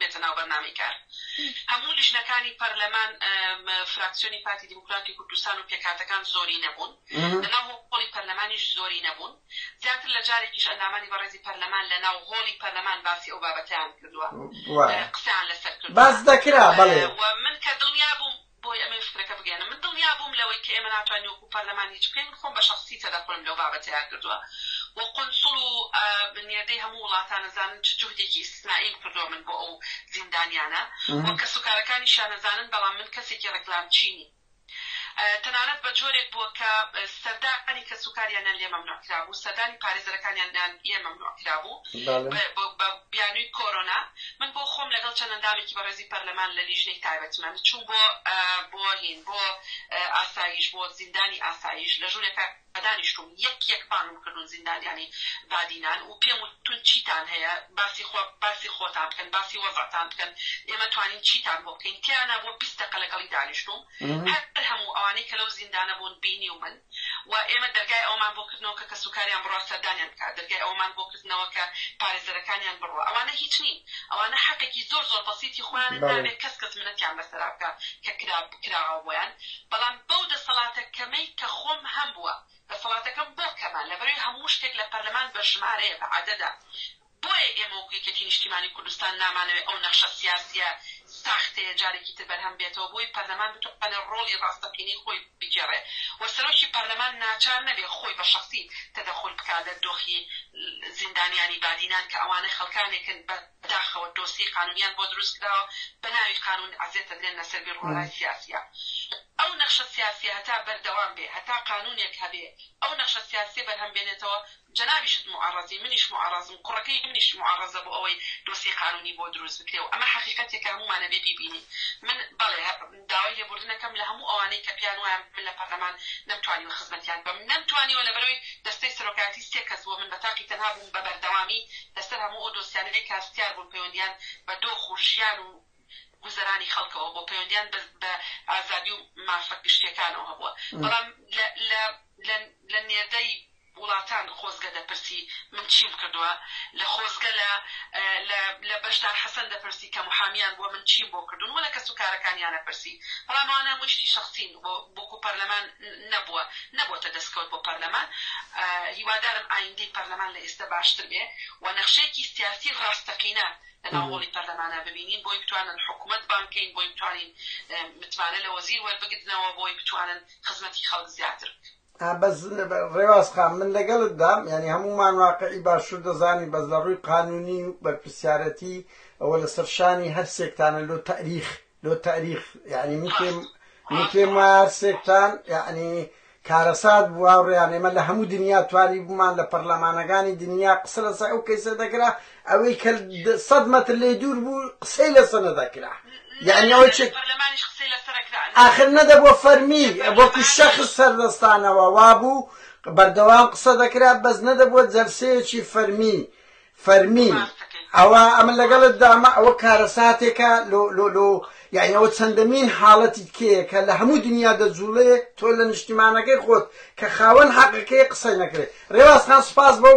بێتە ناو بەرنامەی کار هەموو لیژنەکانی پەرلەمان فراکسیۆنی پارتی دیموکراتی کوردستان و پێکهاتەکان زۆری نەبوون لە ناو هۆڵی پەرلەمانیش زۆری نەبوون زیاتر لە جارێکیش ئەندامانی بەڕێزی پەرلەمان لە ناو هۆڵی پەرلەمان باسی ئەو بابەتیان کردووە قسەیان لەسەر کرد باس دەکرا بەڵێ من کە دڵنیا بووم بۆیە ئەمەوێ فکرەکە بگەیەنم. من دڵنیا بووم لەوەی کە ئێمە ناتوانین وەکوو پەرلەمان هیچ بکەین. من خۆم بە شەخسی تەدەخولم لەو بابەتەیا کردووە و قونسڵ و نێردەی هەموو وڵاتان ئەزانن چ جوهدێکی ئیستسنائیم کردووە من بۆ ئەو زیندانیانە و کەسوکارەکانیشیان ئەزانن، بەڵام من کەسێکی ڕێکلامچی نیم. تەنانەت بە جۆرێک بووە کە سەردانی کەسوکاریانیان لێ مەمنوع کرابوو، سەردانی پارێزەرەکانیانیان لێ مەمنوع کرابوو. بە بیانوی کۆرۆنا من بۆ خۆم لەگەڵ چەند ئەندامێکی بەڕێزی پەرلەمان لە لیژنەی تایبەتمەند چووم بۆ بۆ هین بۆ ئاسایش بۆ زیندانی ئاسایش لە ژورێکا دانیشتووم یەک یەک بانگم کردون زیندانیانی بادینان و پێم وتون چیتان هەیە باسی خۆ باسی خۆتان بکەن باسی وەزعتان بکەن ئێمە توانین چیتان بۆ بکەین تیانا بۆ بیست دەقە لەگەڵی دانیشتووم هەر هەموو ئەوانەی کە لەو زیندانە بوون بینیومن و ئێمە دەرگای ئەوەمان بۆ کردنەوە کە کەسوکاریان بڕوا سەردانیان بکات، دەرگای ئەوەمان بۆ کردنەوە کە پارێزەرەکانیان بڕوا. ئەوانە هیچ نین، ئەوانە حەقێکی زۆر زۆر بەسیتی خۆیانن، نابێت کەس کەس منەتیان بەسەرا بکات کە کرا کراوە بۆیان، بەڵام بەو دەسەڵاتە کەمەی کە خۆم هەمبووە، دەسەڵاتەکەم بۆ کەمە، لەبەروی هەموو شتێک لە پەرلەمان بە ژمارەیە، بە عەدەدە. بۆیە ئێمە وەکو یەکێتی نیشتیمانی کوردستان نامانەوێت ئەو نەخشە سیاسیە ساختەیە جارێکی تر بەرهەم بێتەوە بۆی پەرلەمان بتوانێت ڕۆڵی ڕاستەقینەی خۆی بگێڕێت و سەرۆکی پەرلەمان ناچار نەبێت خۆی بە شەخسی تەدەخول بکات لە دۆخی زیندانیانی بادینان کە ئەوانە خەڵکانێکن بە داخەوە دۆسیەی قانونیان بۆ دروست کراوە بە ناوی قانون ئەزێتە درێن لە سەر بیروڕای سیاسیە ئەو نەخشە سیاسیە هەتا بەردەوام بێت هەتا قانونێک هەبێت ئەو نەخشە سیاسیە بەرهەم بێنێتەوە جەنابیشت موعەڕەزی منیش موعەڕەزم کوڕەکەی منیش موعەڕەزە بۆ ئەوەی دۆسیەی قانونی بۆ دروست بکرێ و ئەمە حەقیقەتێکە هەموومان ئەبێ بیبینین من بەڵێ داوای لێبوردن ئەکەم لە هەموو ئەوانەی کە پێیان وایە من لە پەرلەمان نەمتوانیوە خزمەتیان بکەم نەمتوانیوە لەبەروی دەستەی سەرۆکایەتی سێ کەس بووە من بە تاقی تەنها بووم بە بەردەوامی لەسەر هەموو ئەو دۆسیانەی کە هەستیار بوون پەیوەندیان بە دۆخ و ژیان و گوزەرانی خەڵکەوە بۆ پەیوەندیان بە ئازادی و مافە گشتیەکانەوە هەبووە بەڵام لە لە لە نێردەی وڵاتان خۆزگە دەپرسی من چیم کردوە لە خۆزگە لە لە لە بەشدار حەسەن دەپرسی کە محامیان بوە من چیم بۆ کردون وە لە کەس و کارەکانیانە پرسی بەڵام ئەوانە هەموی شتی شەخسین بۆ بۆکو پەرلەمان نەبوە نەبۆتە دەسکەوت بۆ پەرلەمان هیوادارم ئایندەی پەرلەمان لە ئیستە باشتر بێ وە نەخشەیەکی سیاسی ڕاستەقینە لە ناو هۆڵی پەرلەمانا ببینین بۆی بتوانن حکومەت بانگ کەین بۆی بتوانین متمانە لە وەزیر وەربگرنەوە بۆی بتوانن خزمەتی خەڵک زیاتر بکەن. بەس ڕێواز خان من لەگەڵت دام یعنی هەمومان واقعی باشوور دەزانین بەس لە ڕووی قانونی و بەرپرسیارەتی ئەوە لە سەرشانی هەر سێکتانە لۆ تاریخ لۆ تاریخ یعنی من پێم من پێم وایە هەر سێکتان یعنی کارەسات بووە ڕێیان ئێمە لە هەموو دنیا توانی بوومان لە پەرلەمانەکانی دنیا قسە لەسەر ئەو کەیسە دەکرا ئەوەی کە سەد مەتر لێی دوور بوو قسەی لەسە نەدەکرا یعنی ئەوەی چ ئاخر نەدەبووە فەرمی وەکو شەخص سەردەستانەوە وابوو بەردەوام قسە دەکرا بەس نەدەبووە جەلسەیەکی فەرمی فەرمی ئەوە ئەمە لەگەڵت دامە ئەوە کارەساتێکە لۆ لۆ لۆ یعنیەوە چەندەمین حاڵەتی تکەیە کە لە هەموو دنیا دەجوڵێ تۆ لە نیشتیمانەکەی خۆت کە خاوەن حەقەکەی قسەی نەکرێت ڕێوازخان سپاس بەو